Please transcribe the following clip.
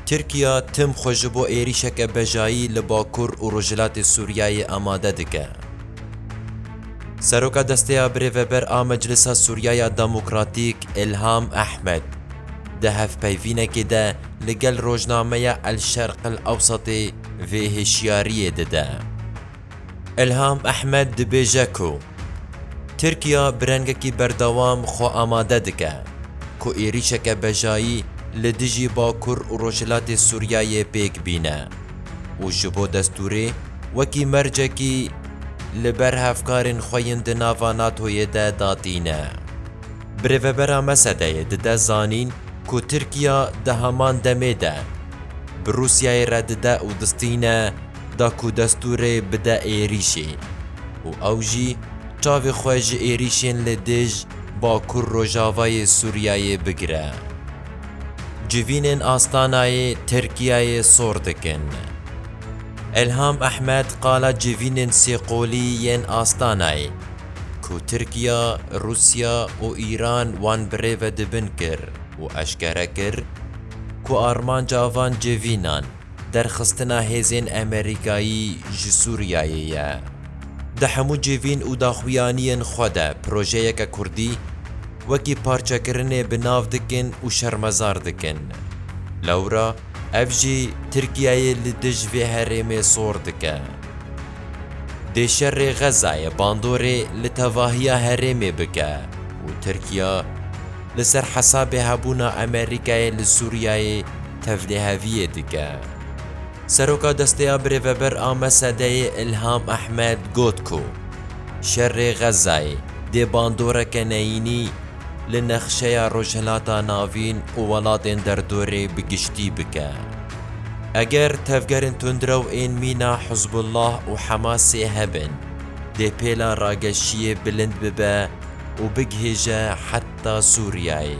Tirkiya tim xwe ji bo êrîşeke bejayî li bakur û rojhilatê Sûriyeyê amade dike. Seroka Desteya Birêveber a Meclisa Sûriyeya Demokratîk Îlham Ehmed, di hevpeyvînekê de li gel rojnameya El Şerq El Ewsatê vê hişyariyê dide. Ilham Ehmed dibêje ku Tirkiya bi rengekî berdewam xwe amade dike ku êrîşeke bejayî li dijî Bakur û Rojhilatê Sûriyeyê pêk bîne û ji bo destûrê wekî mercekî li ber hevkarên xwe yên di nava NATO'yê de da tîne. Bi rêvebera Mesedeyê dide zanîn ku Tirkiya di heman demê de bi Rûsyayê re dide û distîne, da ku destûrê bide êrîşê û ew jî çavê xwe ji êrîşên li dij Bakur Rojavayê Sûriyeyê bigire. Civînên Astanayê Tirkiyeyê sor dikin. Elham Ehmed qala civînên sêqolî yên Astanayê ku Tirkiya, Rûsya û Îran wan bi rê ve dibin kir û eşkere kir ku armanca van civînan, derxistina hêzên Amerîkayî ji Sûriyeyê ye. Di hemû civîn û daxuyaniyên xwe de projeyeke Kurdî wekî parçekirinê bi nav dikin û şermezar dikin. Lewra ev jî Tirkiyeyê li dij vê herêmê sor dike. Dê şerê Xezayê bandorê li tevahiya herêmê bike û Tirkiya, li ser hesabê hebûna Amerîkayê li Sûriyeyê tevliheviyê dike. Seroka destê ya Birêveber a Mesedeyê Îlham Ehmed got ku şerê Xezzayê dê bandoreke neyînî li nexşeya Rojhilata Navîn û welatên derdorê bi giştî bike. Eger tevgerên tundrew ên mîna Hizbullah û Hemasê hebin, dê pêla rageşiyê bilind bibe, û bigihêje heta Sûriyeyê.